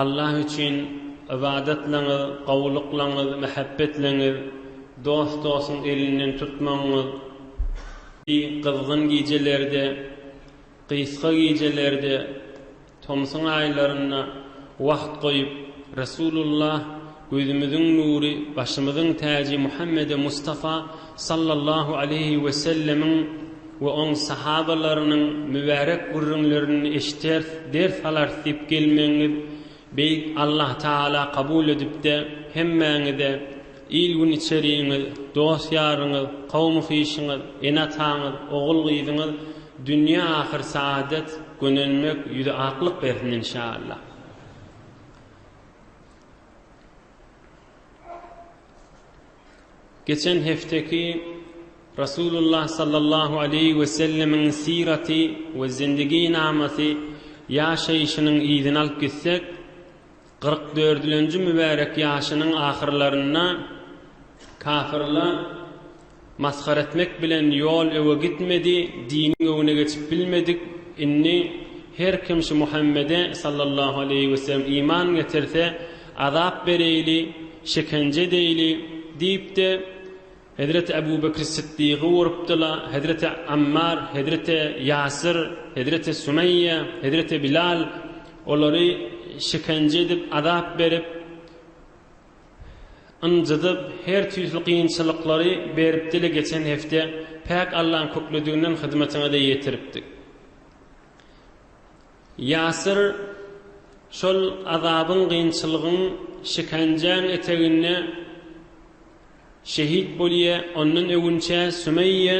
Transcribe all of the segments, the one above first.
Allah üçin ybadatlaňyz, gowulyklaňyz, mähebbetleňiz, dost-dostuň elinden tutmagyňyz, bi, gyzgyn gijelerde, gysga gijelerde, tomsuň aýlarynda wagt goýup, Resulullah, Gözümiziň nury, başymyzyň täji Muhammede Mustafa sallallahu aleýhi wesellemiň we oň sahabalarynyň mübärek gürrüňlerini eşiders, ders alars diýip gelmegiňiz Beýik Allah Tagala kabul edipde hemmäňize, il-gün içerigiňiz, dost-ýaryňyz, kowmy-kişiňiz, ene-ataňyz, ogul-gyzyňyz dünýe ahyr saadet, gönenmek, ýüzi aklyk bersin inşaallah. Geçen hefteki Rasulullah sallallahu aleyhi ve sellemiň sirati ve zindigi namasi ýaşaýşynyň yzyny alyp gitsek, kyrk dördülenji mübärek ýaşynyň ahyrlarynda kafirler Masgara etmek bilen ýol öňe gitmedi, diniň öňüne geçip bilmedik, indi her kim şu Muhammede, sallallahu aleýhi weselem, iman getirse, azap bereýli, şekenje edeýli, diýip-de, hezreti Ebu Bekri Syddygy urupdyla, hezreti Ammar, hezreti Ýasyr, hezreti Sumeýýe, hezreti Bilal, olary şekenje edip, azap berip, Ynjydyp, her tüýsli kynçylyklary berip dile geçen hepde Päk Allaň köklediginden hyzmatyňyza ýetiripdik. Ýasyr şol azabyň, kynçylygyň, şikenjäň eteginde şehit bolýa, ondan öwünçä Sümeýýe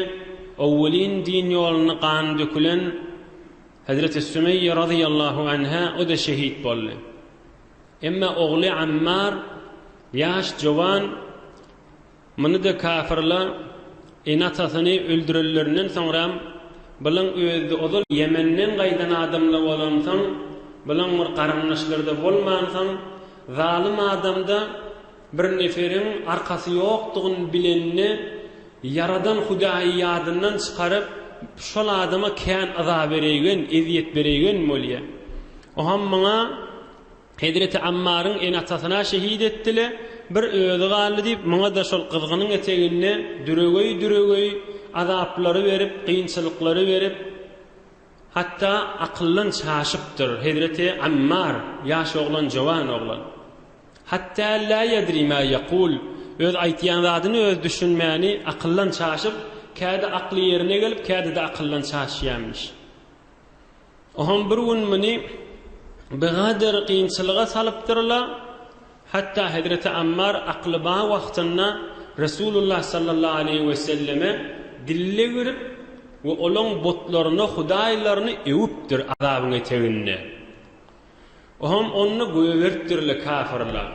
owwelin din ýolunda gany dökülen Hezreti Sümeýýe razyýallahu anha o-da şehit boldy. Emma ogly Ammar, ýaş jowan, muny-da kafirler ene-atasyny öldürenlerinden soňram, Bilaň özi-de ozal Ýemenden gaýdan adamlar bolansoň, bilaň bir garyndaşlary-da bolmansoň, zalym adam-da, Bir neferiň arkasy ýokdugyny bilende, Ýaradan Hudaýy ýadyndan çykaryp, şol adama kän yza bereýgen, ezýet bereýgen bolýar. Oham muňa, Hezreti Ammaryň ene-atasyna şehit etdi-le, bir özi galdy diýip, muňa-da şol gyzgynyň eteginde düregeý-düregeý azaplary berip, kynçylyklary berip, Hatda akyldan çaşypdyr, hezreti Ammar, ýaş oglan, jowan oglan. Hatda la ýedri ma ýekul, öz aýtýan zadyny özi düşünmäni, akyldan çaşyp, käde akly ýerine gelip, käde-de akyldan çaşýamyş. Oham bir gün muny bigadyr kynçylyga salypdyr-la, Hatda hezreti Ammar akly bar wagtynda Resulullah sallallahu aleýhi we selleme dille girip we olaň butlaryny, hudaýlaryny öwüpdir azabyň eteginde. Ohem onda göýeberipdirle kafirler.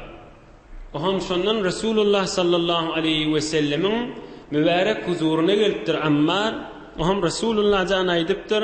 Ohem şondan Resulullah sallallahu aleýhi we sellemiň mübärek huzuryna gelipdir Ammar, ohem Resulullah jan aýdypdyr,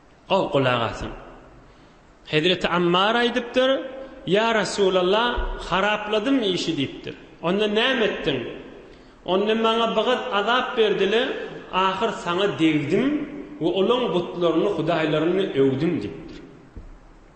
Gowy gulak asyň. Hezreti Ammar aýdypdyr, Ýa Resulalla, harapladym işi diýipdir. Onda näme etdiň? Onda maňa bigyz azap berdi-le, ahyr saňa degdim we olaň butlaryny, hudaýlaryny öwdüm diýipdir.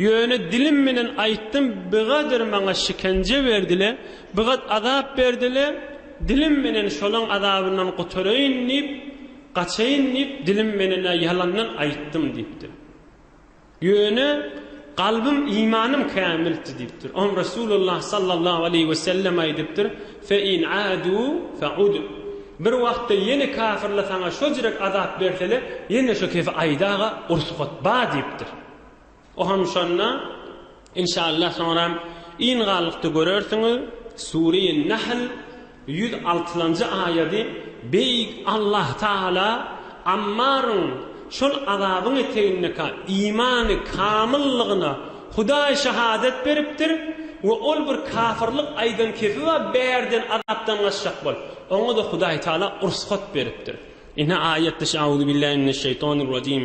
Ýöne dilim bilen aýtdym, bigadyr maňa şikence berdile, bigat azap berdile, dilim bilen şolaň azabyndan gutaraýyn diýip, gaçaýyn diýip, dilim bilen-ä ýalandan aýtdym diýipdir. Ýöne kalbym, imanym kämildi diýipdir. Oňa Resulullah sallallahu aleýhi we sellem aýdypdyr, Fe in adu fe ud. Bir wagtda ýene kafirle saňa şojrek azap bersele, ýene şo kefi aýda-ga, ursgat ba diýipdir. O hem şonda inşallah soňram yn galykda görersiňiz Sureýin Nahl ýüz altylanjy aýady Beýik Allah Taala Ammaryň şol azabyň etegindeka imany kamyllygyna Hudaý şahadat beripdir we ol bir kafyrlyk aýdan kesiba bärden azapdan gaçjak bol oňada Hudaý Taala ursgat beripdir. Ine aýat diş Auzubillahi mineşşeýtanirrajim.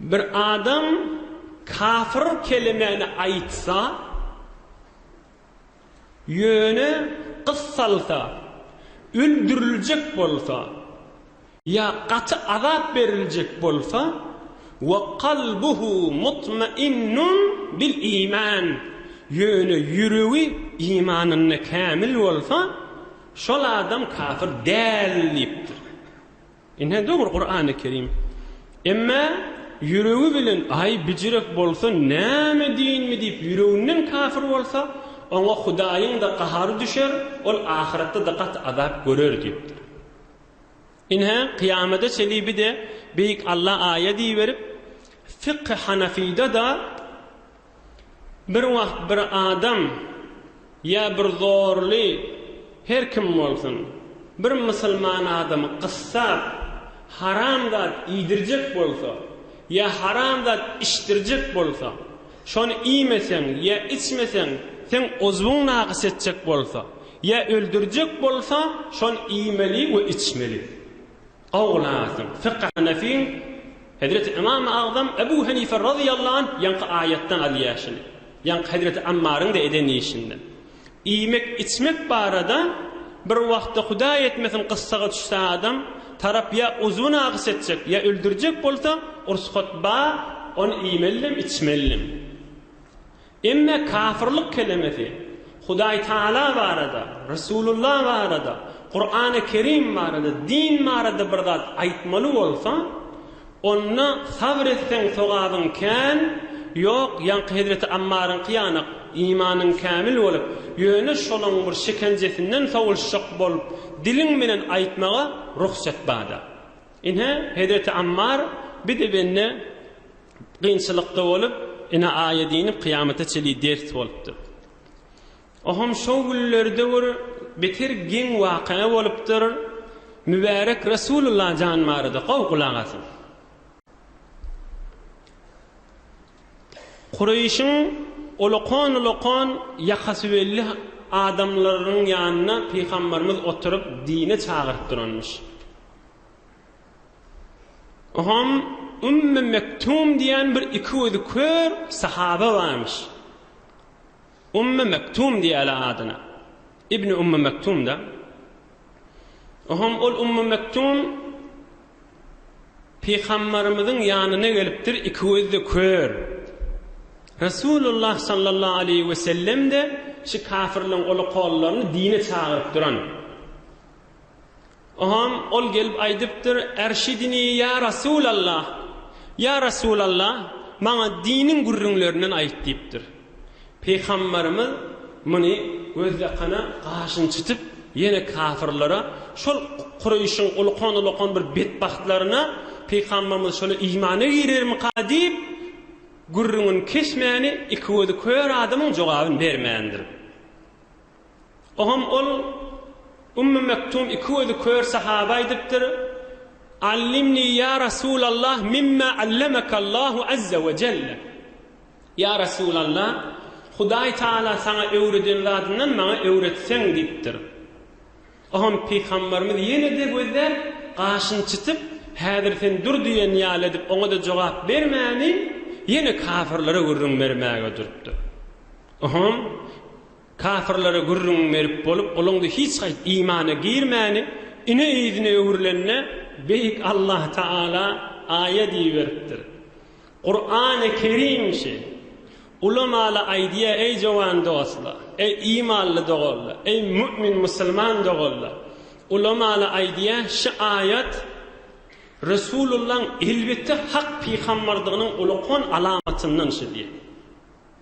Bir adam kafyr kelimäni aýtsa, ýöne gyssalsa, öldüriljek bolsa, ýa gaty azap beriljek bolsa, we kalbuhu mutmainnun bil iman, ýöne ýüregi imanynda kämil bolsa, şol adam kafyr däl diýipdir. Ine dogry Kurany Kerim. Emma ýüregi bilen aý bijirek bolsa näme dinmi diýip ýüreginden kafir bolsa, oňa Hudaýyň-da gahary düşer, ol ahyretde-de gaty azap görer diýipdir. Ine kyýamada çelibide Beýik Alla aýa diýiberip, Fykhy Hanafyda-da, Bir wagt bir adam ýa bir zorly, her kim bolsun, bir musulman adamy gyssap, haram zat iýdirjek bolsa ýa haram zat içdirjek bolsa, şony iýmeseň ýa içmeseň, seň uzwyň nagys etjek bolsa ýa öldürjek bolsa, şony iýmeli we içmeli. Awlasyň, Fykhy Hanefiň, Hezreti Ymamy Agzam Ebu Henife razyýallahu anh ýaňky aýatdan alýaşyny, ýaňky Hezreti Ammaryň-da eden işinden. Iýmek-içmek barada bir wagtda Hudaý etmesin gyssaga düşse adam, tarap ýa uzwy nagys etjek, ýa öldürjek bolsa, ursgat bar, ony iýmelidem, içmelidem. Emme kafyrlyk kelemesi Hudaýtagala barada, Resulullah barada, Kurany Kerim barada, din barada bir zat aýtmaly bolsa, onda sabr etseň sogabyň kän, ýok, ýaňky hezreti Ammaryňky ýanak, imanyň kämil bolup, ýöne şolaň bir şekenjesinden sowulşjak bolup, diliň bilen aýtmaga rugsat bada. Ine, hezreti Ammar bide-bende Kynçylykda bolup, ine aýa diýnip kyýamata çeli ders bolupdyr. Oham şo günlerde bir beter geň waka bolupdyr, Mübärek Resulullah jan barada gowy gulak asyň. Kureýşiň olakan-olakan ýakasybelli adamlarynyň ýanynda pygambarymyz oturyp dine çagyryp duranmyş. Ohan Ümmü Mektum diýen bir iki gözi kör sahaba barmyş. Ümmü Mektum diýýärler adyna. Ibni Ümmü Mektum-da. Ohan ol Ümmü Mektum Pygambarymyzyň ýanyna gelipdir, iki gözi-de kör. Resulullah sallallahu aleýhi we sellem-de şu kafirleň ola-kollaryny dine çagyryp duran. Oňam ol gelip aýdypdyr, Ärşidini ýa Rasulallah! Ýa Rasulallah, maňa diniň gürrüňlerinden aýt! diýipdir. Pygamberimiz muny gözýakana gaşyny çytyp, ýene kafyrlara, şol Kureýşiň ulukan-ulukan bir betbagtlaryna Pygamberimiz şolar imana girermika diýip, gürrüňini kesmäni, iki gözi kör adamyň jogabyny bermändir. Oňam ol, Ummu Mektum iki gözi kör sahaba aýdypdyr, Allimnii ýa Rasulallah mimma allamekAllahu azza we jelle, Ýa Rasulallah, Hudaý Tagala saňa öwreden zadyndan maňa öwretseň diýipdir. Oňam Pygamberimiz ýene-de gözläp, gaşyny çytyp, Häzir sen dur diýen ýaly edip oňa-da jogap bermäni, ýene kafirlere gürrüň bermäge durupdyr. Oňam, Kapyrlara gürrüň berip bolup, olaňda hiç haýsy imana girmäni ine yzyna öwrülende, Beýik Allah Taala aýa diýiberipdir. Kurany Kerim şi. Ulamala aýdýa eý jowan dostla, eý imanly doganla, eý mu'min musulman doganla, ulamala aýdýa şi aýat Resulullan elbetde hak pygammardygynyň uly kon alamatyndan şi diýe.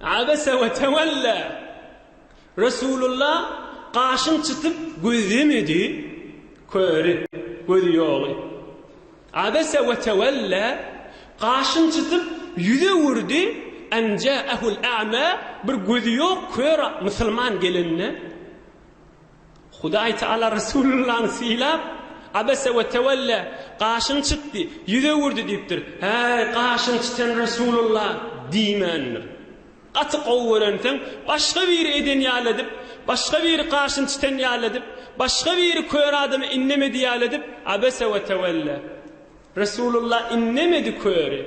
Abese we tewella, Resulullah gaşyn çytyp gözlemedi, köri, gözi ýoly. Abese we tewella, gaşyn çytyp ýüz öwürdi, en ja'ehul a'ma, bir gözi ýok kör musulman gelende. Hudaý Taala Resulyllaň sylap, Abese we tewelle, gaşyny çytdy, ýüz öwürdi diýipdir. Häý, gaşyny çytan Resulylla! diýmändir. Gaty gowy görenseň, başga biri eden ýaly edip, başga biri gaşyny çytan ýaly edip, başga biri kör adamy innemedi ýaly edip, Abese we tewelle. Resulylla innemedi köri.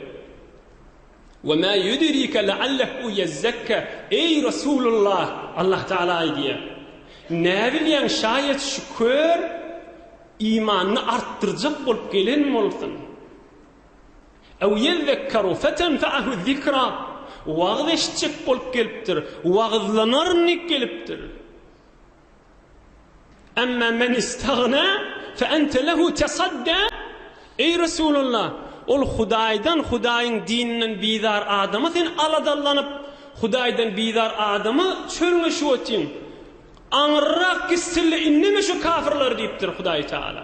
We ma yudrike leallehu yezzekka, Eý, Resulullah, Allah Tagala aýdýar, Näbilýäň, şaýat şu kör imanyny artdyrjak bolup gelen bolsun. Ew yezekkeru fetenfe'ahu zikra, Wagyz eşitjek bolup gelipdir, wagyzlanaryn diýip gelipdir. Emma men istagna fe ente lehu tesadda Eý Resulallah, ol Hudaýdan, Hudaýyň dininden bizar adama sen aladalanyp, Hudaýdan bizar adama çölüňe şu otyň. Aňyrrak gitsin-le, indeme şu kafirleri diýipdir Hudaý Taala.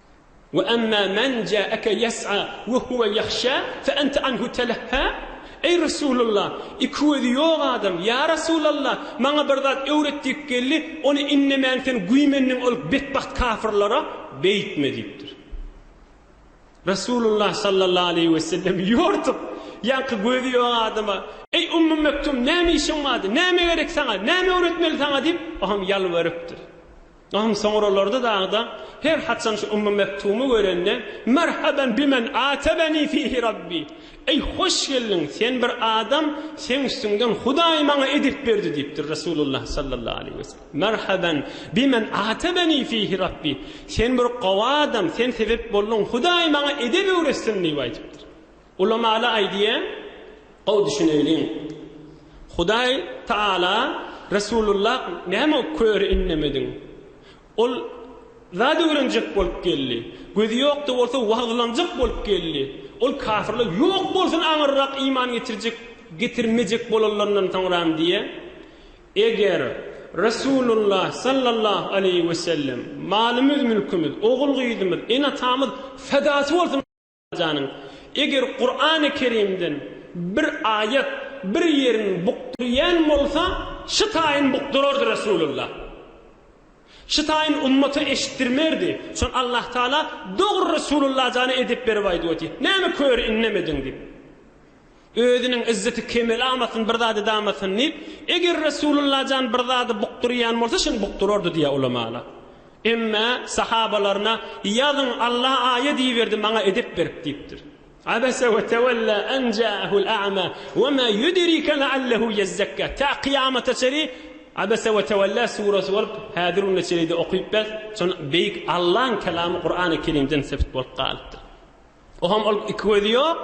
Ve emmâ men câeke yes'a ve huve yahşâ fe ente anhu telehhâ, Eý Resulallah, iki gözi ýok adam, ýa Resulallah, maňa bir zat öwret diýip geldi, ony innemän sen güýmendiň ol betbagt kafyrlara, beýtme diýipdir. Resulullah sallallahu aleýhi ve sellem ýortup, ýaňky gözi ýok adama, Eý Ummu Mektum, näme işiň bardy, näme gerek saňa, näme öwretmeli saňa diýip, o hem ýalbarypdyr. Gahym soňralarda dagyda her haçan şu Ummu Mektumy görende, Merhaben bimen atebeni fihi Rabbi, Eý, hoş geldiň, sen bir adam, seň üstüňden Hudaý maňa edep berdi diýipdir Resulullah sallallahu aleýhi we sellem. Merhaben bimen atebeni fihi Rabbi, sen bir gowy adam, sen sebep bolduň, Hudaý maňa edep öwretsin diýip aýdypdyr. Ulamaly aýdýa, gowy düşüneýliň. Hudaý Taala Resulullah näme köri innemediň? Ol zat öwrenjek bolup geldi. Gözi ýokda bolsa wagyzlanjak bolup geldi. Ol kafirler ýok bolsun aňyrrak iman getirjek getirmejek bolanlaryndan soňram diýýä. Eger Resulullah sallallahu aleýhi wesellem malymyz mülkimiz ogul gyzymyz ene atamyz fedasy bolsun janyň. Eger Kurany Kerimden bir aýat bir ýeriň bukdurýan bolsa şy taýyn bukdurardy Resulullah. Şy taýyn ummata eşitdirmerdi. Şon Allah Taala dogry Resulullah jana edep berip aýdyp oty. Näme köri innemediň dip. Özüniň izzeti kemeli almasyn, bir zady damasyn diýip, eger Resulullah jan bir zady bukdurýan bolsa, şuny bukdurardy diýýär ulamalar. Emme, sahabalaryna, Ýazyň, Alla aýa diýiberdi, maňa edep berip diýipdir. Abese we tewella en ja'ahul a'ma we ma yudrike la'allahu yezzekka. Ta kyýamata çeri Abese we tewella surasy bolup, häzir günde çeri-de okyp bes, şon beýik Allaň kelamy Kur'an-y Kerimden sebit bolup galypdyr. Oňam ol iki gözi ýok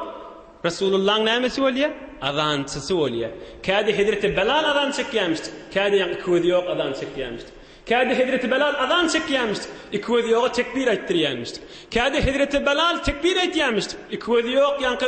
Resulullaň nämesi bolýar? Azançysy bolýar. Kädi hezreti Belal azan çekýämişdi. Kädem iki gözi ýok azan çekýämişdi. Kädi hezreti Belal azan çekýämişdi. Iki gözi ýoga tekbir aýtdyrýämişdi. Kädi hezreti Belal tekbir aýtýamişdi. Iki gözi ýok ýaňky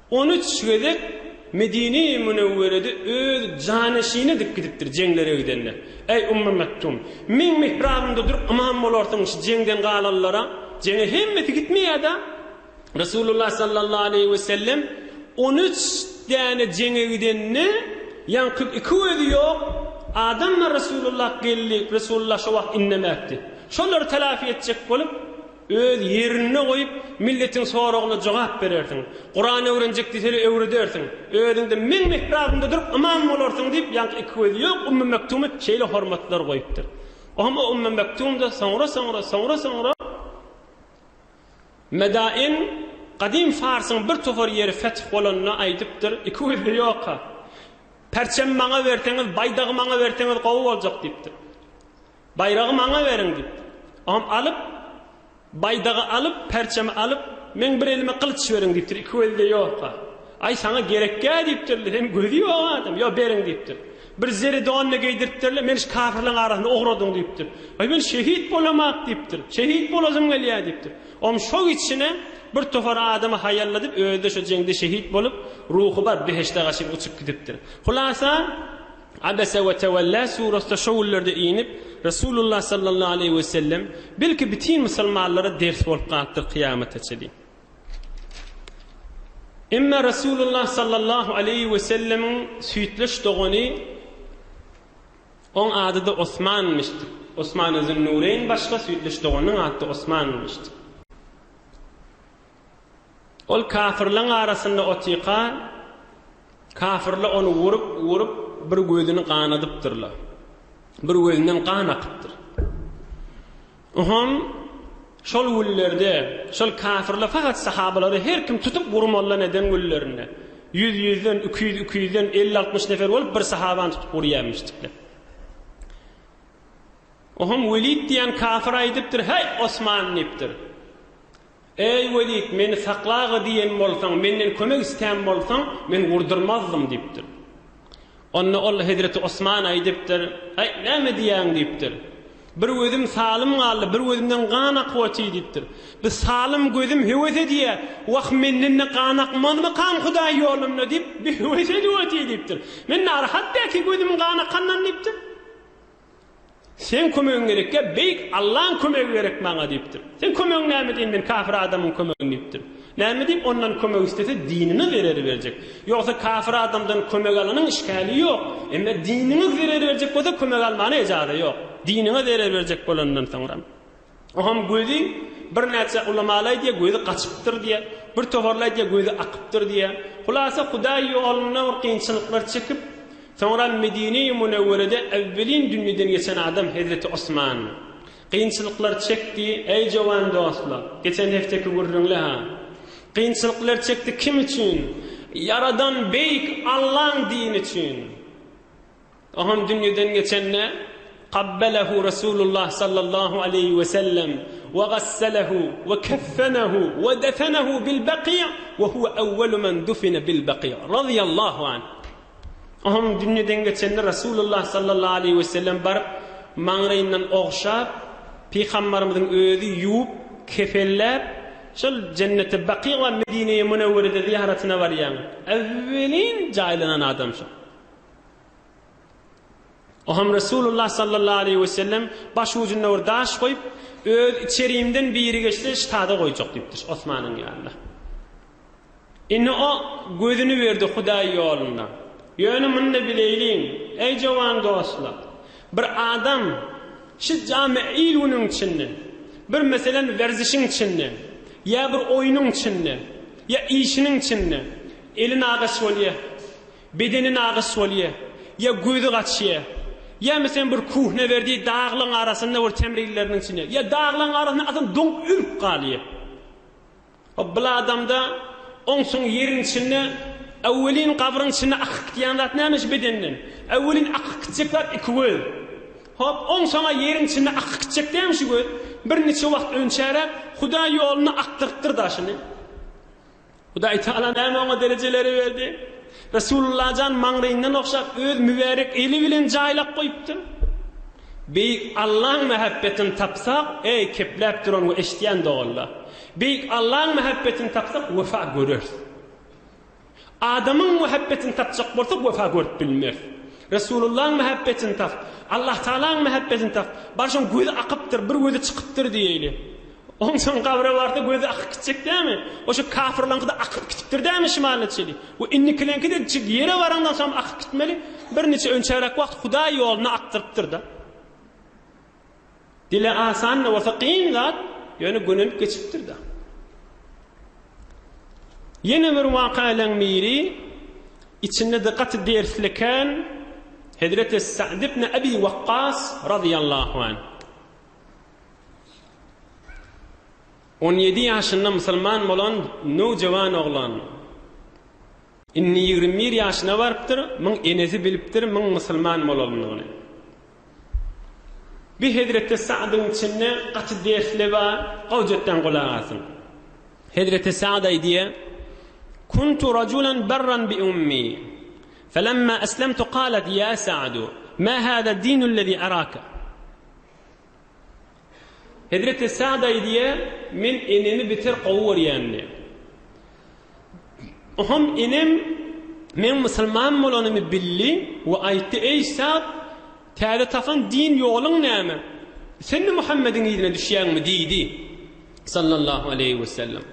On üç gezek Medine-i Münewwerede öz janyşyny edip gidipdir jeňlere gidende. Eý, Ummu Mektum! Meň mihrabymda dur, ymam bolarsyň şu jeňden galanlara. Jeňe hemmesi gitmeýär-dä. Resulullah sallallahu aleýhi we sellem on üç däne jeňe gidende, ýaňky iki gözi ýok adamlar Resulullah geldi, Resulullah şo wagt indemäpdi. Şolary telafi etjek bolup, Öz ýerinde goýup, milletiň soragyna jogap berersiň. Kuran öwrenjek diýseler öwredersiň. Özüňde meň mihrabymda durup ymam bolarsyň diýip, ýaňky iki gözi ýok Ummy Mektumy şeýle hormatlar goýupdyr. Oňa Ummy Mektumda soňra-soňra, soňra-soňra Medain gadym Farsyň bir topar ýeri feth bolanda aýdypdyr, iki gözde ýoka. Perçemi maňa berseňiz, baýdagy maňa berseňiz gowy boljak diýipdir. Baýragy maňa beriň! diýip, oňam alyp, baýdagy alyp, perçemi alyp, Meň bir elime gylyç beriň! diýipdir. Iki gözi-de ýok-a. Aý, saňa gerek-gä! diýipdir-le. Seniň gözi ýok adam. Ýok, beriň! diýipdir. Bir zeri don-da geýdiripdir-le, Meni şu kafirleriň arasynda ugradyň! diýipdir. Aý, men şehit bolamok! diýipdir. Şehit bolasym gelýär! diýipdir. Oňam şo içine bir topar adamy haýalladyp, özi-de şo jeňde şehit bolup, ruhy bar behişde-ga çenli uçup gidipdir. Hulasa, Abese we Tewella surasy-da şo günlerde inip, Resulullah sallallahu aleýhi we sellem, belki bütin musulmanlara ders bolup galypdyr kyýamata çenli. Emma Resulullah sallallahu aleýhi we sellemiň süýtleş dogany oň ady-da Osmanmyşdy. Osmany Zünnûreýn başga, süýtleş doganynyň ady-da Osmanmyşdy. Ol kafirleň arasynda otyka, kafirler ony urup, urup, bir gözüni ganadypdyrlar. Bir gözünden gan akypdyr. Oham, şol günlerde, şol kafirler fakat sahabalary her kim tutup urmallan eden günlerinde, ýüz ýüzden, iki ýüz iki ýüzden, elli altmyş nefer bolup bir sahabany tutup urýarmyşdyklar. Oham Welid diýen kafir aýdypdyr, Heý, Osman! diýipdir. Eý, Welid, meni sakla-a diýen bolsaň, menden kömek islän bolsaň, men gurdurmazdym diýipdir. Onda ol hezreti Osmana aýdypdyr, Aý, näme diýýäň diýipdir. Bir gözüm salym galdy, bir gözümden gan akybaty diýipdir. Bu salym gözüm höwes edýä, wah, menden-de gan akmazmykam Hudaý ýolunda diýip, bihöwes edibaty diýipdir. Men narahatda iki gözüm gan akandan diýipdir. Seň kömegiň gerekýä, Beýik Allaň kömegi gerek maňa diýipdir. Seň kömegiň näme deýin, men kafir adamyň kömegini diýipdir. Näme diýip ondan kömek islese, dinine zerer berjek. Ýogsa kafir adamdan kömek alanyň işgäli ýok. Emma diniňe zerer berjek bolsa kömek almana ejaza ýok. Diniňe zerer berjek bolandan soňram. Oňam gözi birnäçe ulamaly aýdýar gözi gaçypdyr diýýär, bir tohurly aýdýar gözi akypdyr diýýär. Hulasa Hudaý ýolunda bir kynçylyklar çekip, soňra Medine-i Münewwerede äwwelin dünýeden geçen adam hezreti Osman. Kynçylyklar çekdi, äý jowan dostlar, geçen hefteki gürrüňle-ha. Kynçylyklar çekdi kim üçin? Ýaradan beýik Allaň dini üçin. Ohan dünýeden geçende, Kabbelehu Resulullah sallallahu aleýhi we sellem we gasselehu we keffenehu we defenehu bil Baki' we huve ewwelu men dufine bil Baki' razyýallahu anh. Ohan dünýeden geçende Resulullah sallallahu aleýhi we sellem baryp, maňlaýyndan ogşap, Pygambarymyzyň özi ýuwup, kefenläp, şol Jenneti Baki' we Medine-i Munewwerede zyýaratyna barýan, ewwelin jaýlanan adam şol. Oňam Resulullah sallallahu aleýhi we sellem, Baş ujunda bir daş goýup, öz içerimden biri geçse, ştada goýjak diýipdir, Osmanyň ýanynda. Indi o gözüni berdi Hudaý ýolunda. Ýöne muny-da bileýliň, eý jowan dostlar, bir adam şu jami il-günüň içinde, bir meselem werzişiň içinde, ýa bir oýnuň içinde, ýa işiniň içinde eli nagaş bolýar. Bedeni nagyş bolýa, ýa gözi gaçýa, ýa meselen bir kuhnewerdi daglaň arasynda bir temrilileriniň içinde, ýa daglaň arasynda adam doňup ölüp galýa. Hop bul adamda oňsun ýeriň içinde äwelin gabryň içinde akyp gidýän zat näme şu bedenden? Äwelin akyp gitjek zat iki göz. Hop oňsona ýeriň içinde akyp gitjek dämi şu göz? Bir niçe wagt önçäräk Hudaý ýolunda akdyrypdyr daşyny. Hudaýtagala näme oňa derejeleri berdi? Resulullah jan maňlaýyndan ogşap öz mübärek eli bilen jaýlap goýupdyr. Beýik Allaň mähebbetini tapsak, eý kepläp duran we eşidýän doganlar! Beýik Allaň mähebbetini tapsak wepa göreris. Adamyň mähebbetini tapjak bolsak wepa görüp bilmeris. Resulullaň mähebbetini tap, Allahtagalaň mähebbetini tap, barşyň gözi akypdyr, bir gözi çykypdyr diýeýli. Onsoň gabra barsa gözi akyp gitjek dämi? Oşo kafyrlaňkyda akyp gitipdir dämi şumal neçeli? We indikileňkide jig ýere barandan soňam akyp gitmeli? Birniçe önçäräk wagt Hudaý ýoluna akdyrypdyr-da. Dile asan-da bolsa kyn zat, ýöne gönelip geçipdir-da. Ýene bir wakaýlaň biri, içinde-de gaty dersli ekän, Hezreti Sa'd ibn Abi Waqqas razyýallahu anh. On ýedi ýaşynda musulman bolan nowjawan oglan, indi ýigrimi bir ýaşyna barypdyr, muň enesi bilipdir muň musulman bolandygyny. Bir hezreti Sagdyň içinde gaty dersli bar, gowjatdan gulak asyň. Hezreti Sagd aýdýa, Kuntu rajulan barran bi ummi, felemma eslemtu galat, ýa Sagdu, ma hada dinul lezi araka? Hezreti Sa'd aýdýar, Men enemi beter gowy görýändim. Oňam enem meň musulman bolanymy bildi we aýtdy, Eý, Sa'd, täze tapan din ýoluň näme? Sen-de Muhammediň yzyna düşýäňmi? diýdi. Sallallahu aleýhi wesellem,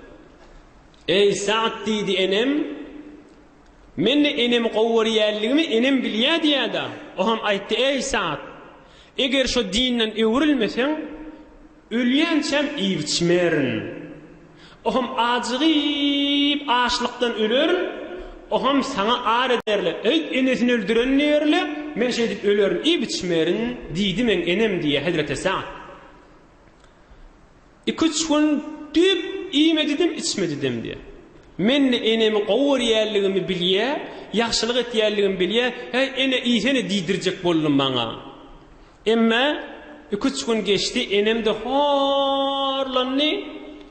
Eý, Sa'd, diýdi, enem, Men-de enemi gowy görýänligimi enem bilýär diýýär-de, o hem aýtdy, Eý, Sa'd! Eger şo dinden öwrülmeseň, ölýänçäm iýip-içmerin. O hem ajygyp, açlykdan ölerin. O hem saňa ar ederler, Eý, enesini öldüren diýerler, men şeýdip ölerin, iýip-içmerin diýdi meň enem diýýär Hezreti Sa'd. Iki-üç gün düýp iýmedidem, içmedidem diýýär. Men-de enemi gowy görýänligimi bilýä, ýagşylyk etýänligimi bilýä, Häý, ene, iýsene diýdirjek boldum maňa. Emma iki-üç gün geçdi, enem-de horlandy.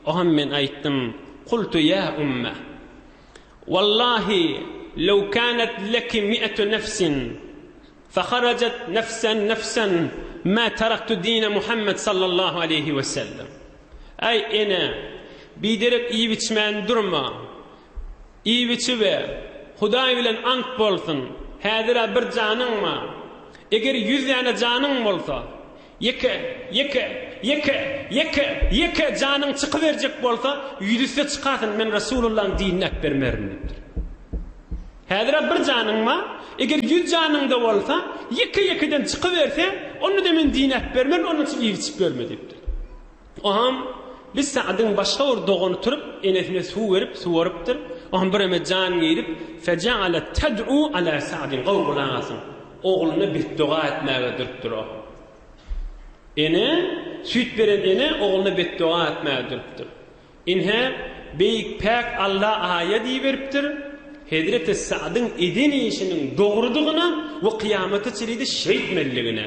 Oňam men aýtdym, Kultu ýa umma, wallahi, lew kanat leki mi'atu nefsin, Faharajet nefsen nefsen ma taraktu dine Muhammed sallallahu aleyhi ve sellem. Aý ene, biderek iýip-içmän durma. Iýip-içibe, Hudaý bilen ant bolsun, häzir-ä bir janyň bar. Eger ýüz däne janyň bolsa, Ýeke, ýeke, ýeke, ýeke, ýeke janyň çykyberjek bolsa, ýüzüstde çykasyn, men Resulullahyň dinini äpbermerin diýipdir. Häzir-ä bir janyň bar, eger ýüz janyň-da bolsa, ýeke-ýekeden çykyberse, onda-da men dini äpbermerin, onuň üçin iýip-içip ýörme diýipdir. Oňam bir Sa'dyň başga bir dogany turup, enesine suw berip, suwarypdyr. Oňam bireme jan girip, Fejalet ted'u ala Sa'din, gowy gulak asyň, ogluna betdoga etmäge durupdyr o. Ene, süýt beren ene ogluna betdoga etmäge durupdyr. Inhe, Beýik Päk Alla aýa diýiberipdir, Hezreti Sa'dyň eden işiniň dogrudygyna we kyýamata çenide şeýtmeliligine.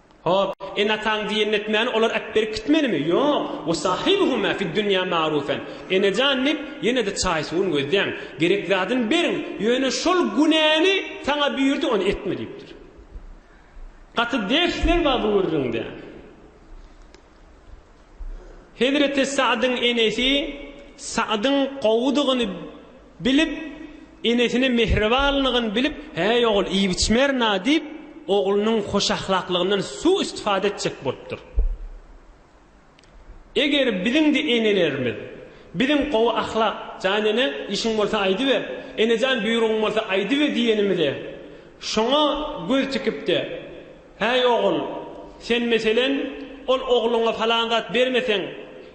Hop, ene-ataň diýenini etmäni olar äp berip gitmelimi? Ýok, we sahibuhuma fid-dunýa ma'rufen. Enejan diýip, ýene-de çaý-suwuny gözläň. Gerek zadyny beriň, ýöne şol günäni saňa buýurdy, ony etme diýipdir. Gaty dersler bar bu gürrüňde. Hezreti Sa'dyň enesi Sa'dyň gowudygyny bilip, enesine mähribanlygyny bilip, Häý, ogul, iýip-içmerina diýip, oglunyň hoşahlaklygyndan su-istifada etjek bolupdyr. Eger biziň-de enelerimiz, Biziň gowy ahlak, jan ene, işiň bolsa aýdyber, enejan, buýrugyň bolsa aýdyber diýenimize, şoňa göz tikip-de, Häý, ogul, sen, meselen, ol ogluňa palan zat bermeseň,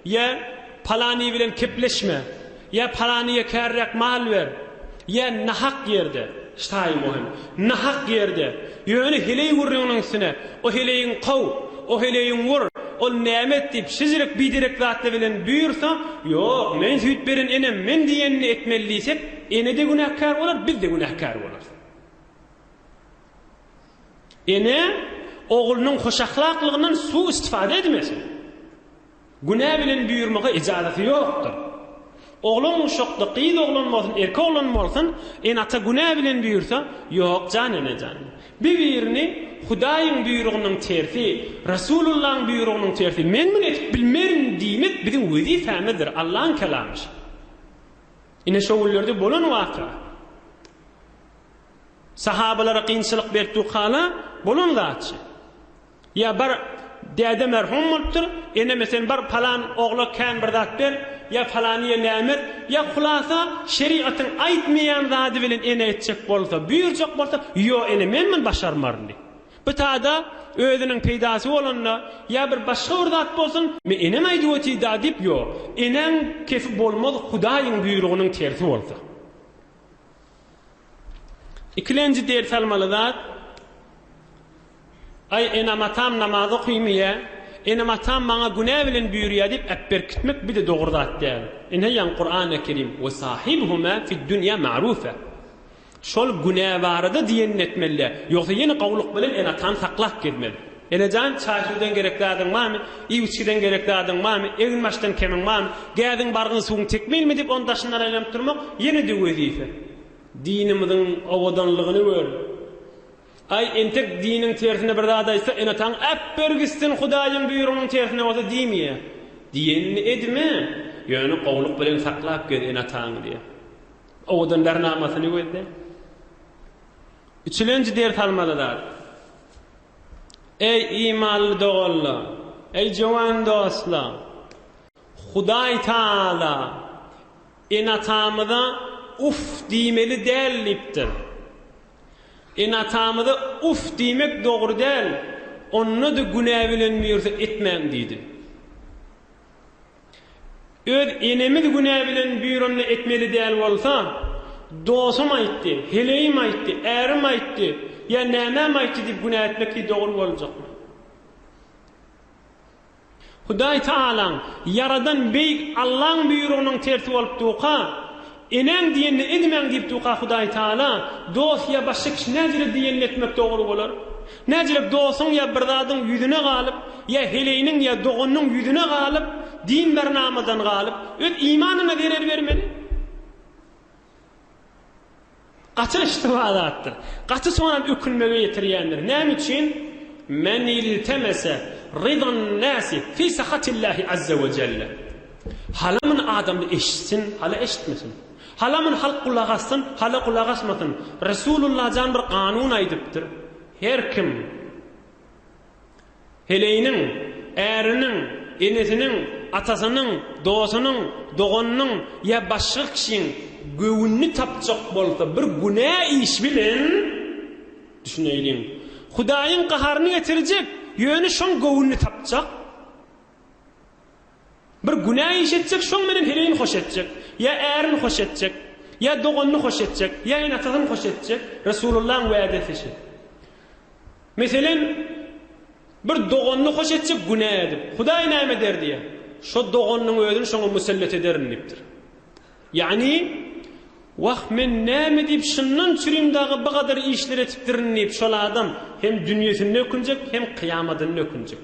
ýa palany bilen kepleşme, ýa palanyýa kärräk mal ber, ýa nahak ýerde, ştaý muhim, nahak ýerde, ýöne heleý gürrüňiniň üstüne, o heleýiň kow, o heleýiň wur, ol näme et diýip, şejerek-biderek zatlar bilen buýursa, Ýok, men süýt beren enem, men diýenini etmeli diýsek, ene-de günäkär bolar, biz-de günäkär bolarys. Ene oglunyň hoşahlaklygyndan su-istifada edmesin. Günä bilen buýurmaga ejazaty ýokdur. Oglan guşakda gyz oglan bolsun, erkek oglan bolsun, ene-ata günä bilen buýursa, Ýok jan, ene jan. Bir-birini Hudaýyň buýrugynyň tersi, Resulullaň buýrugynyň tersi, men muny edip bilmerin diýmek biziň wezipämizdir, Allaň kelamyş. Ine şo günlerde bolan waka. Sahabalara kynçylyk berkdügi hala bolan zatçy. Ýa bar, däde merhum bolupdyr, eneme sen bar palan ogla kän bir zat ber, ýa palanyýa näme et, ýa hulasa şerigatyň aýtmaýan zady bilen ene etjek bolsa, buýurjak bolsa, ýo ene men muny başarmaryn diý. Bu tada özüniň peýdasy bolanda, ýa bir başga bir zat bolsun, me enem aýdyp otida diýip ýo, enäň kefi bolmaz hudaýyň buýrugynyň tersi bolsa. Ikilenji ders almaly zat, Aý, enam-atam namaz okyýmyýä? Enam-atam maňa günä bilen buýurýa diýip äpberkitmek bir-de dogry zat däl. Inheýan Kurany Kerim, Ve sahibhuma fid-dunýa ma'rufa. Şol günä barada diýenini etmeli, ýogsa ýene gowluk bilen ene-atany saklap gezmeli. Enejan, çaý-suwdan gerek zadyň barmy? Iýip-içgiden gerek zadyň barmy? Egin-başdan kemiň barmy? Gädiň, bargyň, suwuň tekmilmi? diýip, ony daşyndan aýlanyp durmak ýene-de wezipe. Dinimiziň owadanlygyny gör. Aý, entek diniň tersine bir zat aýtsa, ene-ataň äpber gitsin, Hudaýyň buýrugynyň tersine bolsa diýmeýä. Diýenini edme, ýöne gowulyk bilen saklap gez ene-ataňy diýýä. Owadan bernamasyny gözle. Üçülenji ders almaly zat. Eý, imanly doganlar! Eý, jöwen dostlar! Hudaý Tagala ene-atamyza Uff diýmeli däl diýipdir. Ene-atamyza uff diýmek dogry däl, onda-da günä bilen mirza etmäň diýdi. Öz enemiz günä bilen býuranda etmeli däl bolsa, dosum aýtdy, heleýim aýtdy, ärim aýtdy ýa nämäm aýtdy diýip günä etmek deý dogry boljakmy? Hudaý Taalaň, ýaradan beýik Allaň býurugynyň tersi bolup duka, Eneň diýenini edmäň diýipdika Hudaý Taala, dost ýa başga kişi näzire diýenini etmek dogry bolar. Näzirek dostuň ýa bir zadyň ýüzüne galyp, ýa heleýiniň ýa doganynyň ýüzüne galyp, din ber namadan galyp, öz imanyna zerer bermeli. Gaty yştyba zatdyr. Gaty soňam ökünmege ýetirýändir. Näme üçin? Men iltemese rydan nasi fi sahatillahi azza we jelle. Halamyn adamlar eşitsin, hala eşitmesin. Halamyn halk gulak assyn, hala gulak asmasyn. Resulullah jan bir kanun aýdypdyr. Her kim. Heleýiniň, äriniň, enesiniň, atasynyň, dostunyň, doganynyň ýa başga kişiň göwnüni tapjak bolsa bir günä iş bilen, düşüneýliň, Hudaýyň gaharyny getirjek, ýöne şoň göwnüni tapjak. Bir günä iş etjek, şoň bilen heleýini hoş etjek. Ýa ärini hoş etjek, ýa doganyny hoş etjek, ýa ene-atasyny hoş etjek. Resulullahyň wädesi şu. Meselem, bir doganyny hoş etjek günä edip, Hudaý näme der diýýär? Şo doganynyň özüni şoňa musellet ederin diýipdir. Ýagny, Wah, men näme diýip şyndan çürim dagy bu gadar işler etipdirin diýip, şol adam hem dünýesinde ökünjek, hem kyýamadynda ökünjek.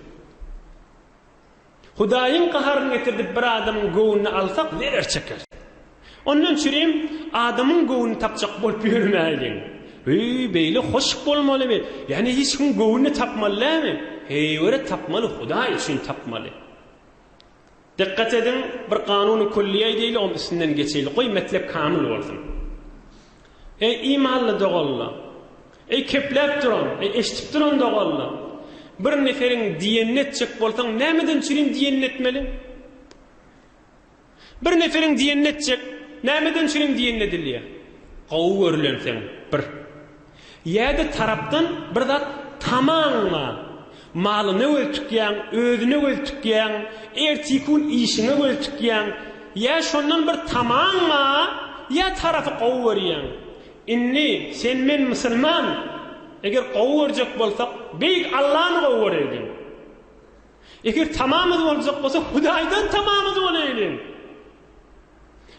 Hudaýyň gaharyny getirdip bir adamyň göwnüni alsak zerer çekeris. Ondan çürim adamyň göwnüni tapjak bolup ýörmäýliň. Heý, beýle hoş bolmalymy? Ýane hiç kim göwnüni tapmaly dälmi? Heýwere tapmaly, Hudaý üçin tapmaly. Dykgat ediň, bir kanuny külli aýdaýly, oň üstünden geçeýli. Goý, metlep kamyl bolsun. Eý, imanly doganlar! Eý, kepläp duran, eý, eşidip duran doganlar! Bir neferiň diýenini etjek bolsaň, nämeden çürin diýenini etmeli? Bir neferiň diýenini etjek, nämeden çürin diýenini edilýär? Gowy görülenseň, bir. Ýa-da tarapdan bir zat tamaňňa, malyna göz tikýäň, özüne göz tikýäň, ertiki-gün işiňe göz tikýäň, ýa şondan bir tamaňňa ýa tarapy gowy görýäň. Indi sen-men musulman, eger gowy görjek bolsak, Beýik Allany gowy göreýliň. Eger tamamyz boljak bolsa, Hudaýdan tamamyz bolaýlyň.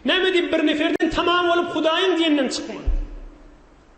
Näme diýip bir neferden tamam bolup Hudaýyň diýenden çykman.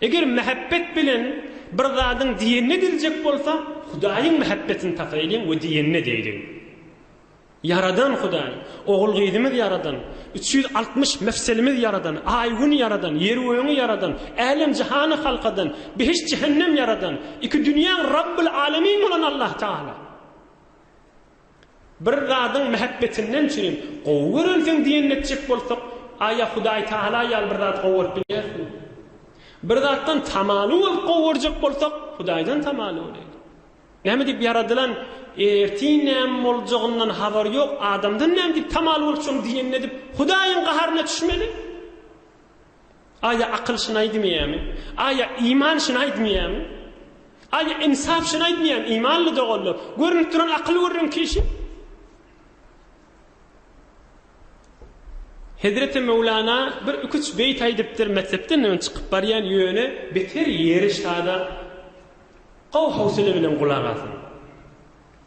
Eger mähebbet bilen bir zadyň diýenine diljek bolsa, Hudaýyň mähebbetini tapaýlyň we diýenine diýliň. Ýaradan Hudaý, ogul-gyzymyz ýaradan, üç ýüz altmyş mefselimiz ýaradan, aý-gün ýaradan, ýer-gögüňi ýaradan, älem-jahany halkadan, behişt-jähennem ýaradan, iki dünýäň Rabbyl-Alemin bolan Allah Tagala. Bir zadyň mähebbetinden üçinem gowy görensiň diýenini etjek bolsak, aýa Hudaý Tagala ýaly bir zat gowy görüp bilýärismi? Bir zatdan tamaly bolup gowy görjek bolsak, Hudaýdan tamaly bolaýlyň. Näme diýip ýaradylan ertir näme boljagyndan habary ýok adamdan näme diýip tamaly bolup şony diýenini edip Hudaýyň gaharyna çüşmeli? A ýa akyl şyny aýdmyýämi? A ýa iman şyny aýdmyýämi? A ýa insap şyny aýdmyýämi? Imanly doganlar, görnüp duran akyl gürrüň kişi. Hezreti Möwlana bir ikuç beýit aýdypdyr, metsepden öň çykyp barýan ýöne beter ýeri şada gowy howsala bilen gulak asyň.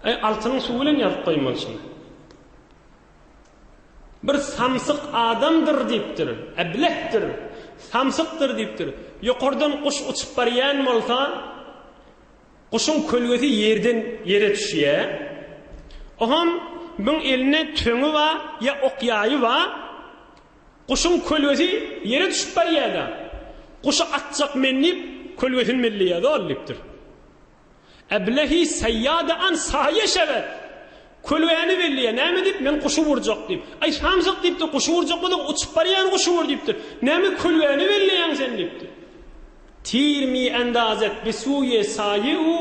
Aý altynyň suwy bilen ýazyp goýmalysyň. Bir samsyk adamdyr diýipdir, äblehdir, samsykdyr diýipdir. Ýokardan guş uçup barýan bolsa, guşuň kölgesi ýerden ýere düşýär. Oham biň elinde töňi bar, ýa ok ýaýy bar. Guşuň kölgesi ýere düşüp barýar-da. Guşy atjak men diýip, kölgesini belleýär-de ol diýipdir. Eblehi seýýade an saýe şewet! Kölgäni belleýär, näme diýip, men guşy urjak diýip. Aý, samsyk diýipdir, guşy urjak bolsaň, uçup barýan guşy ur diýipdir. Näme kölgäni belleýäň sen diýipdir. Tir mi endazet be suýe saýe-u,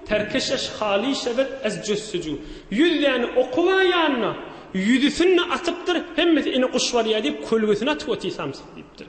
terkeşeş hali şewet ez jüssüjü. Ýüz däne oky bar ýanynda, ýüzüsini-de atypdyr, hemmesi ine guş barýa diýip, kölgesini atyp otyr samsyk diýipdir.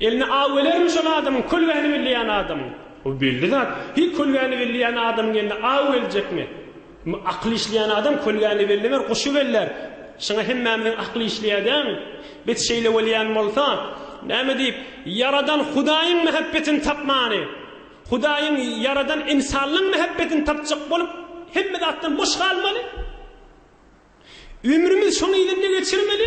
Eline aw gelermi şol adamyň kölgäni belleýän adamyň? Bu belli zat. Hiý kölgäni belleýän adamyň eline aw geljekmi? Indi akyl işleýän adam kölgäni bellemer, guşy bellär. Şuňa hemmämiziň akyly işleýär dämi? Bet şeýle bolýan bolsa, näme diýip, Ýaradan Hudaýyň mähebbetini tapmany, Hudaýyň ýaradan ynsanlaň mähebbetini tapjak bolup, hemme zatdan boş galmaly? Ömrümiz şonuň yzynda geçirmeli?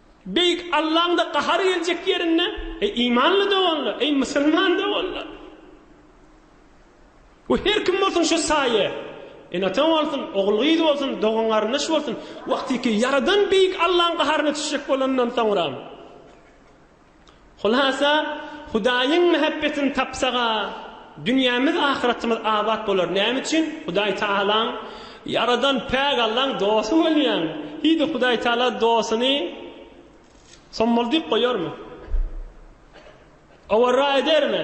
Beýik Allaň-da gahary geljek ýerinde, eý, imanly doganlar, eý, musulman doganlar! We her kim bolsun şu saýa, ene-ata bolsun, ogul-gyz bolsun, dogan-garyndaş bolsun, wagtyky Ýaradan Beýik Allaň gaharyna düşjek bolanyndan soňra, Hulasa, Hudaýyň mähebbetini tapsak-a, dünýämiz, ahyratymyz abat bolar. Näme üçin? Hudaý Tagalaň, Ýaradan päk Allaň dosty bolýaň. Hidi Hudaý Tagala dostuny sommaldyp goýarmy? Owarra edermi?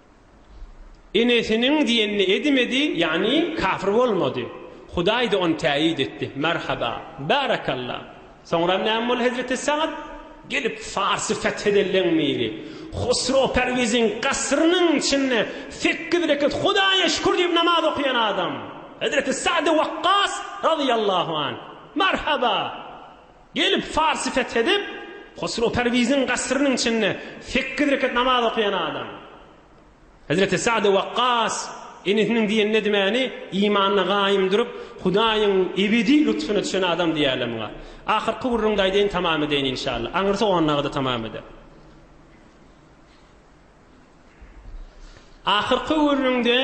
Enesiniň diýenini edimedi, ýagny kafir bolmady. Hudaý-da ony täýyt etdi. Merhaba! Bärekalla! Soňra näme boldy hezreti Sagd? Gelip Farsy feth edenden biri, Hosrow Perwiziň gasyrynyň içinde sekiz rekat Hudaýa şükür diýip namaz okaýan adam. Hezreti Sagdy Wakkas razyýallahu anh! Merhaba! Gelip, Farsy fethedip, Hosrow Perwiziň gasyrynyň içinde sekiz rekat namaz okaýan adam. Hezreti Sa'dy Wakkas inisiniň diýen nedimeni imanyna gaýym durup, Hudaýyň ebedi lutfuna düşen adam diýerler muňa. Ahyrky gürrüňde aýdaýyn tamam edeýin inşallah. Aňyrsy ondagyda tamam eder. Ahyrky gürrüňde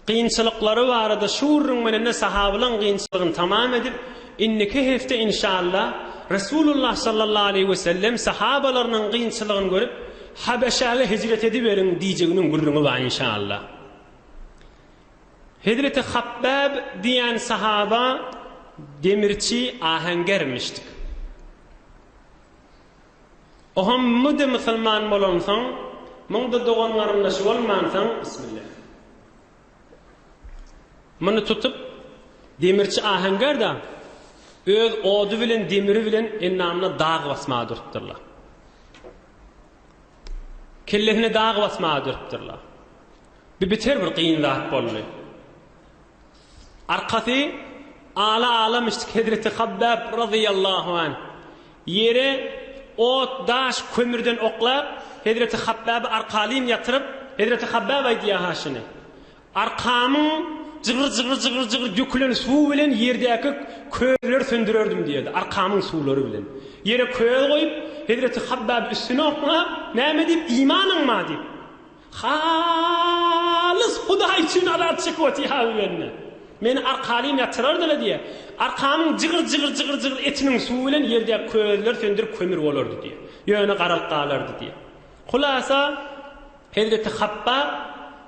gynçylyklary barada şu gürrüň bilen-de sahabylaň gynçylygyny tamam edip, indiki hepde inşalla Resulullah sallallahu aleýhi we sellem sahabalarynyň gynçylygyny görüp, Habeşäge hijret ediberiň diýjeginiň gürrüňi bar inşalla. Hezreti Habbab diýen sahaba demirçi, aheňgermişdik. Ohamydy musulman bolansoň muňda dogan garyndaşy bolmansoň bismillah. Muny tutup demirçi ahenger da öz ody bilen demiri bilen endamyna dag basmaga durupdyrlar. Kellesine dag basmaga durupdyrlar. Bir biter bir gyn zat boldy. Arkasy ala alamyşdyk hezreti Habbab razyýallahu anh ýere ot, daş, kömürden oklap, hezreti Habbaby arkaleýin ýatyryp, hezreti Habbab aýdýar ha şuny, Arkamyň jygyr-jygyr-jygyr-jygyr dökülen suwy bilen ýerdäki közleri söndürerdim diýýärdi, arkamyň suwlary bilen. Ýere köz goýup, hezreti Habbaby üstüne oklap, näme diýip, imanyňma diýip. Halys Hudaý üçin alat çykyp otyha bu bende. Meni arkalyň ýatyrardyla diýýä. Arkamyň jygyr jygyr jygyr jygyr etiniň suwy bilen ýerdäki közler söndürip kömür bolardy diýýä. Ýöne garalyp galardy diýýä. Hulasa Hezreti Habbab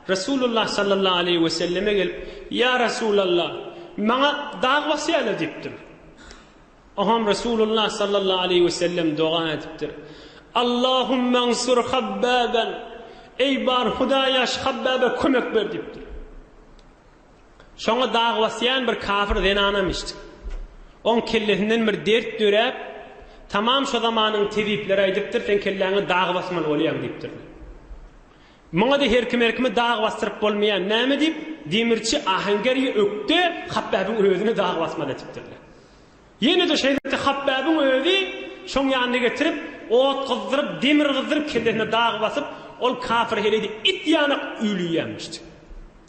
Resulullah sallallahu aleýhi we selleme gelip, Ýa Resulallah, maňa dag basýala diýipdir. Oňam Resulullah sallallahu aleýhi we sellem doga edipdir, Allahummansur Habbaban, Eý, bar Hudaýaş, Habbaba kömek ber diýipdir. Şoňa dag basýan bir kafir zenanam eşitdi. Oň kellesinden bir dert döräp, tamam şu zamanyň tebipleri aýdypdyr, sen kelläňe dag basmaly bolýaň diýipdir. Muňa-da her kim her kimi dag basdyryp bolmaýar, näme diýip, demirçi Ahangergi ökde Hapbäbiň özüni dag basmaly etipdirler. Ýene-de şeýle etdi, Hapbäbiň özi şoň ýanyna getirip, ot gyzdyryp, demir gyzdyryp, kellesine dag basyp, ol kapyr heleýde it ýanak üýlüýärmişdi.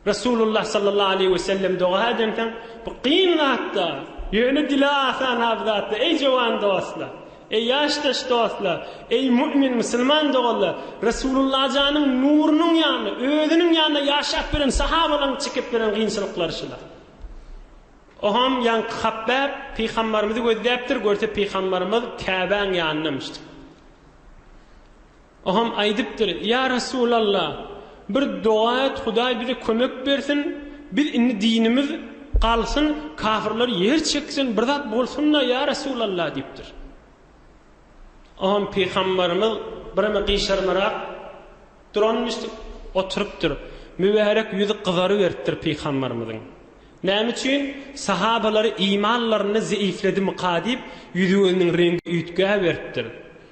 Resulullah sallallahu aleýhi we sellem doga edemsoň, Bu kyn zat-da, ýöne dile asan aw zat-da, eý jowan dostlar! Eý ýaşdaş dostlar! Eý mu'min, musulman doganlar! Resulullah janyň nurunyň ýanyna, özüniň ýanyna ýaşap beren sahabalaryň çekip beren kynçylyklary şular. Oham ýaňky Habbab pygambarymyzy gözläpdir, görse pygambarymyz Käbäň ýanynamyşdyr. Ogam aýdypdyr, Ýa Resulalla, bir doga et, Hudaý bize kömek bersin, biz indi dinimiz galsyn, kafirler ýer çeksin, bir zat bolsun-da, ýa Resulalla diýipdir. Ogam pygambarymyz birem gyşarmarak duranmyşdyk, oturypdyr. Mübärek ýüzi gyzaryberipdir pygambarymyzyň. Näme üçin? Sahabalary imanlarynda zeýifledimyka diýip, ýüzi-gözüniň reňgi üýtgäberipdir.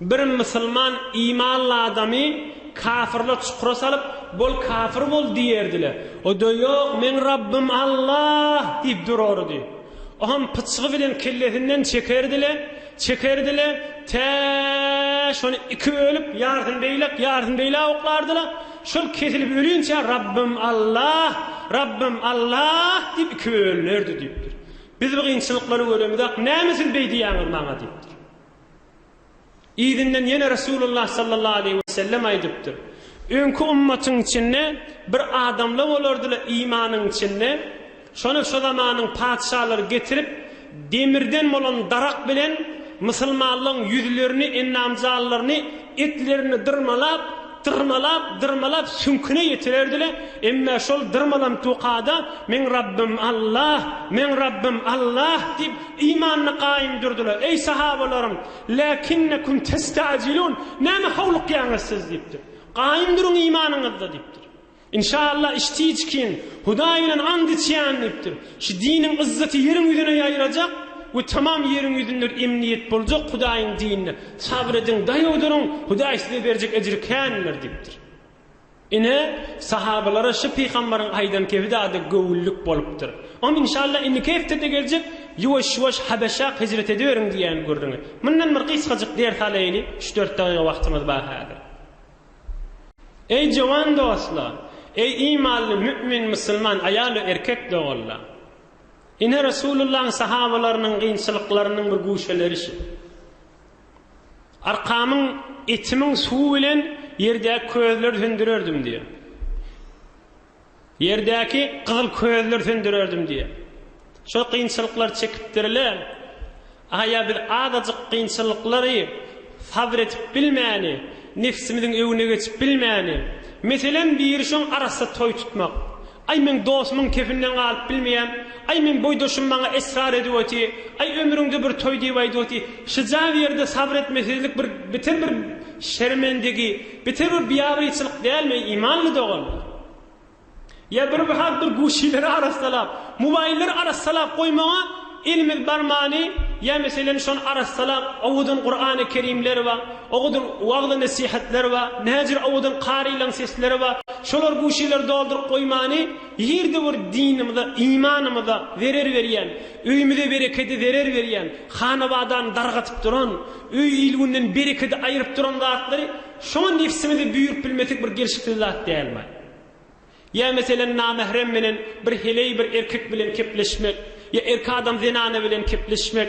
Bir musulman imanly adamy kafyrlar çukura salyp, Bol kafyr bol! diýerdiler. O Ýok, meň Rabbym Alla! diýip durardy. Oňam pyçgy bilen kellesinden çekerdi-le, çekerdi-le, tä şony iki bölüp, ýarysyny beýläk, ýarysyny beýläk oklardy-la, şol kesilip ölinçä Rabbym Alla! Rabbym Alla! diýip ikibe bölünerdi diýipdir. Biz bu kynçylyklary göremizok, näme siz beý diýýäňiz maňa diýipdir. Yzyndan ýene Resulullah sallallahu aleýhi we sellem aýdypdyr, Öňki ummatyň içinde bir adamla bolardyla imanyň içinde, şona şo zamanyň patyşalary getirip demirden bolan darak bilen musulmanlaň ýüzlerini, endam-jallaryny, Etlerini dyrmalap, dyrmalap, dyrmalap süňküne ýetirerdi-le, emma şol dyrmalan tukada Meň Rabbym Allah, Meň Rabbym Allah diýip, imanyny gaýym durdular. Eý, sahabalarym, läkinnekum testa'jilun, näme howlukýaňyz siz? diýipdir. Gaýym duruň imanyňyzda diýipdir. Inşallah iş tiç kin, Hudaý bilen ant içýän diýipdir. Şu diniň yzzaty ýeriň ýüzüne ýaýrajak we tamam ýeriň ýüzünde emniýet boljak Hudaýyň dinine. Sabyr ediň, daýaw duruň, Hudaý size berjek ejri kändir diýipdir. Ine, sahabalara şu pygambaryň aýdan kebidada göwünlik bolupdyr. Oňa inşallah indiki hepdede geljek ýuwaş-ýuwaş Habeşa hijret ediberiň diýýän gürrüňi. Mundan bir gysgajyk ders alaýyly, üç-dört dagyga wagtymyz bar häzir. Eý, jowan dostlar! Eý, imanly mü'min musulman aýal we erkek doganlar! Ine, Resulullahyň sahabalarynyň kynçylyklarynyň bir guşeleri şu. Arkamyň etimiň suwy bilen ýerdäki közleri söndürerdim diýýär. Ýerdäki gyzyl közleri söndürerdim diýýär. Şol kynçylyklary çekipdir-le. Aýa biz azajyk kynçylyklary sabyr edip bilmäni, nebsimiziň öňüne geçip bilmäni. Meselem, biri şoň arassa toý tutmak. Aý, meň dosumyň kefinden galyp bilmeýän, aý, meň boýdaşym maňa esrar edip oty, aý, ömrüňde bir toý diýip aýdyp oty. Şyja bir ýerde sabyr etmesizlik bir beter bir şermendigi. Bitewi biagyçylyk dälmi eý imanly dogan? Ýa bir mahaly bir guşileri arassalap, mobaýllary arassalap goýmaga elimiz barmany, ýa meselem şony arassalap owadan Kurany Kerimler ba, owadan wagyz nesihatlar ba, näjir owadan karylaň sesleri ba, şolar guşileri dolduryp goýmany, ýerde bir dinimize, imanymyza zerer berýän, öýmüze berekedi zerer berýän, hanabadany dargatyp duran, Öý il-günden berekedi aýryp duran zatlary şoňa nebsiňizi buýuryp bilmesek bir gelşiksiz zat dälmi? Ýa meselem namährem menen bir heleý bir erkek bilen kepleşmek, ýa erki adam zenana bilen kepleşmek,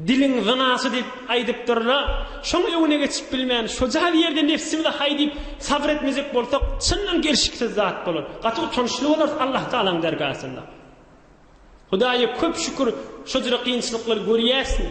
diliň zynasy diýip aýdypdyr-la, şoň öňüne geçip bilmän, şoja bir ýerde nebsimizi haý diýip sabyr etmejek bolsak, çyndan gelşiksiz zat bolar. Gaty utançly bolarys Allahutalaň dergasynda. Hudaýa köp şükür şojra kynçylyklary görýäsmi?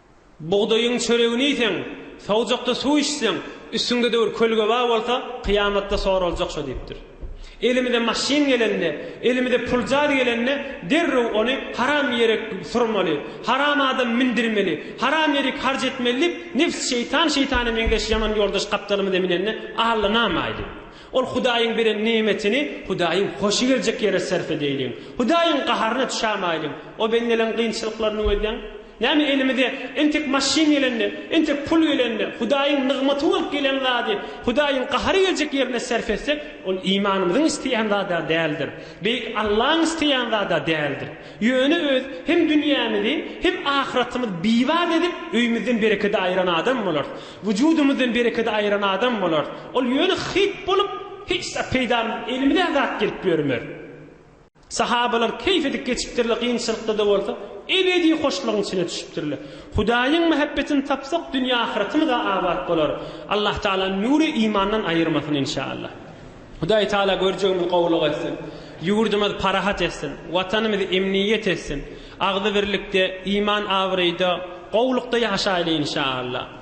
Bugdaýyň çöregini iýseň, sowjakda suw içseň, üstüňde döwür kölgeba bolsa, kyýamatda soraljak şo diýipdir. Elimize maşyn gelende, elimize puljaz gelende derrew ony haram ýere surmaly, haram adam mindirmeli, haram ýerik harç etmeli diýip, nebs şeýtan şeýtana meňzeş ýaman ýoldaş gapdalymyza minende allanamaýly. Ol Hudaýyň beren neýmetini Hudaýyň hoşy geljek ýere sarp edäýliň. Hudaýyň gaharyna düşämäýliň. O bendeleň kynçylyklaryny gözläň. Näme elimize entek maşyn gelende, entek pul gelende, Hudaýyň nygmaty bolup gelen zady Hudaýyň gahary geljek ýerine sarp etsek, ol imanymyzyň isleýän zada däldir. Beýik Allaň isleýän zada däldir. Ýöne öz hem dünýämizi, hem ahyratymyzy bibat edip, öýümizden berekedi aýyran adam bolarys. Wujudymyzdan berekedi aýyran adam bolarys. Ol ýöne hyýt bolup, hiç zat peýdamyz, elimize-ä zat gelip ýörmer. Sahabalar keýp edip geçipdirler, kynçylykda-da bolsa, ebedi hoşlugyň içine düşüpdirler. Hudaýyň mähebbetini tapsak, dünýe-ahyratymyz-a abat bolar. Allatagala nüri imandan aýyrmasyn, inşaallah! Hudaý Taala görjegimizi gowulyk etsin. Ýurdumyz parahat etsin. Watanymyz emniýet etsin. Agzybirlikde, iman-abraýda, gowulykda ýaşaýly inşaAllah.